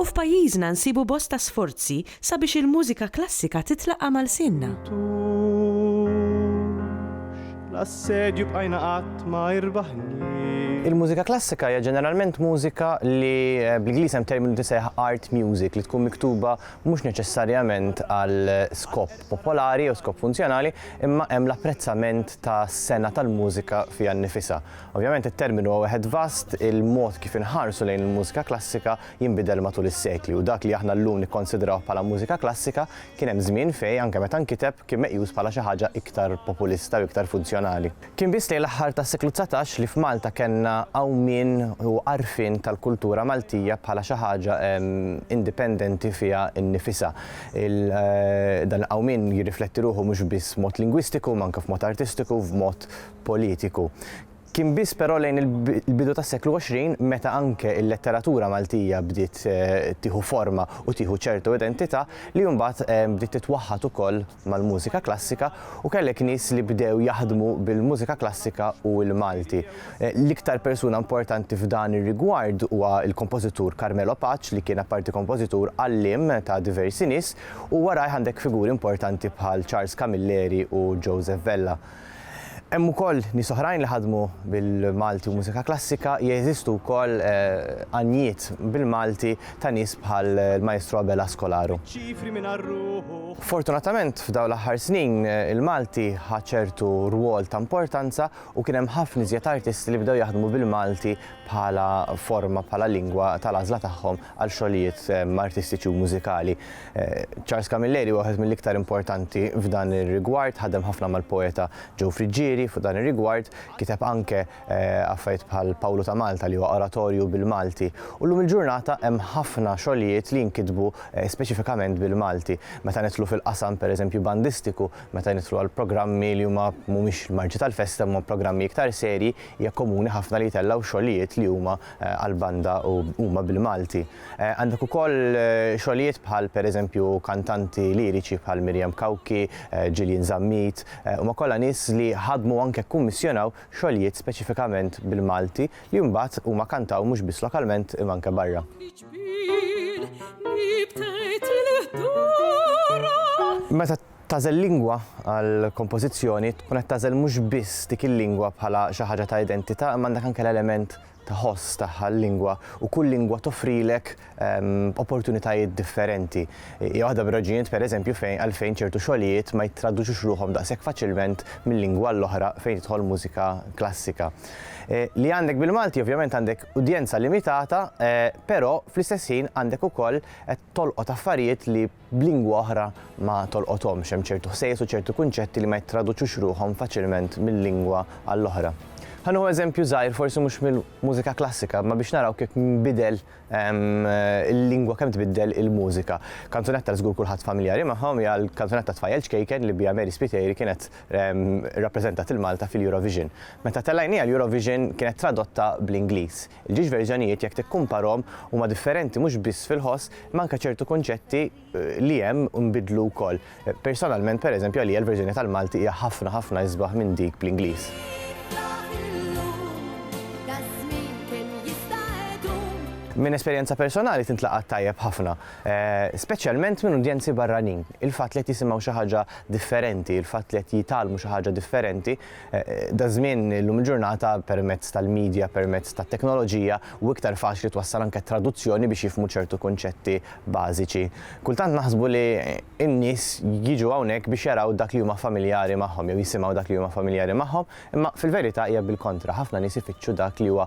U f'pajjiżna nsibu bosta sforzi sabiex il-mużika klassika titlaqa' ma' lsienna. Il-mużika klassika hija ġeneralment mużika li bl-Ingliż hemm terminu tisejjaħ art music li tkun miktuba mhux neċessarjament għal skop popolari jew skop funzjonali imma hemm l-apprezzament tas-sengħa tal-mużika fiha nnifisha. Ovvjament it-terminu huwa wieħed vast, il-mod kif inħarsu lejn il-mużika klassika jinbidel matul is-sekli u dak li aħna llum nikkonsidrawh bħala mużika klassika kien hemm żmien fejn anke meta nkiteb kien meqjus bħala xi ħaġa iktar populista u iktar funzjonali. Kien biss lejn l-aħħar tas-seklu dsatax li f'Malta kellna għawmien u għarfien tal-kultura Maltija bħala xi ħaġa indipendenti fiha nnifisha. Dan il-qawmien jirrifletti ruħu mhux biss f'mod lingwistiku imma anke f'mod artistiku, f'mod politiku. Kien biss però lejn il-bidu tas-seklu 20 meta anke l-letteratura Maltija bdiet eh, tieħu forma u tieħu ċertu identità li mbagħad eh, bdiet titwaħħad ukoll mal-mużika klassika u kellek nies li bdew jaħdmu bil-mużika klassika u l-Malti. Eh, l-iktar persuna importanti f'dan ir-rigward huwa l-kompożitur Carmelo Paċ li kien apparti kompożitur għallim ta' diversi nies u warajh għandek figuri importanti bħal Charles Camilleri u Joseph Vella. Hemm ukoll nies oħrajn li ħadmu bil-Malti u mużika klassika, jeżistu wkoll għanjiet bil-Malti ta' nies bħal l-Maestru Abel Askolaru. Fortunatament f'dawn l-aħħar snin il-Malti ħa ċertu rwol ta' importanza u kien hemm ħafna iżjed artisti li bdew jaħdmu bil-Malti bħala forma, bħala lingwa tal-għażla tagħhom għal xogħlijiet artistiċi u mużikali. Charles Camilleri huwa wieħed mill-iktar importanti f'dan ir-rigward, ħadem ħafna mal-poeta Joe Friggieri fuq dan ir-rigward, kiteb anke affarijiet bħal Pawlu ta' Malta li huwa oratorju bil-Malti. U llum il-ġurnata hemm ħafna xogħlijiet li jinkitbu speċifikament bil-Malti. Meta nidħlu fil-qasam pereżempju bandistiku, meta nidħlu għal programmi li huma mhumiex l-marġi tal-festa imma programmi iktar serji, hija komuni ħafna li jtellgħu xogħlijiet li huma għal banda u huma bil-Malti. Għandek ukoll xogħlijiet bħal pereżempju kantanti liriċi bħal Miriam Cauchi, Gillian Zammit, huma kollha nies li ħadmu u anke kkummissjonaw xogħlijiet speċifikament bil-Malti li mbagħad huma kantaw mhux biss lokalment imma anke barra. Meta Tagħżel lingwa għall-kompożizzjoni tkun qed tagħżel mhux biss dik il-lingwa bħala xi ħaġa ta' identità imma għandek anke l-element ta' ħoss tagħha l-lingwa u kull lingwa toffrilek opportunitajiet differenti. Hija waħda mir-raġunijiet pereżempju fejn għalfejn ċertu xogħlijiet ma jittraduċux ruħhom daqshekk faċilment minn lingwa għal oħra fejn tidħol mużika klassika. Li għandek bil-Malti ovvjament għandek udjenza limitata però fl-istess ħin għandek ukoll qed tolqot affarijiet li b'lingwa oħra ma tolqothomx, hemm ċertu ħsejjes u ċertu kunċetti li ma jittraduċux ruħhom faċilment minn lingwa għall-oħra. Ħa nieħu eżempju żgħir forsi mhux mill-mużika klassika, imma biex naraw kif nbidel il-lingwa kemm tbiddel il-mużika. Kanzunetta li żgur kulħadd familjari magħhom hija l-kanzunetta Tfajjel ċkejken li biha Mary Spiteri kienet rappreżentat il-Malta fil-Eurovision. Meta tellajniha l-Eurovision kienet tradotta bl-Ingliż. Il-ġiex verżjonijiet jekk tikkumparhom huma differenti mhux biss fil-ħoss imma anke ċertu kunċetti li hemm nbidlu wkoll. Personalment pereżempju għalija l-verżjoni tal-Malti hija ħafna ħafna isbaħ minn dik bl-Ingliż. Minn esperjenza personali tintlaqat tajjeb ħafna, eh, speċjalment minn udjenzi barranin. Il-fatt li qed jisimgħu xi ħaġa differenti, il-fatt li qed jitgħallmu xi ħaġa differenti, Daż-żmien, illum il-ġurnata, permezz tal-midja, permezz tat-teknoloġija, hu iktar faċli twassal anke traduzzjoni biex jifhmu ċertu kunċetti bażiċi. Kultant naħsbu li n-nies jiġu hawnhekk biex jaraw dak li huma familjari magħhom jew jisimgħu dak li huma familjari magħhom, imma fil-verità hija bil-kontra, ħafna nies ifittxu dak li huwa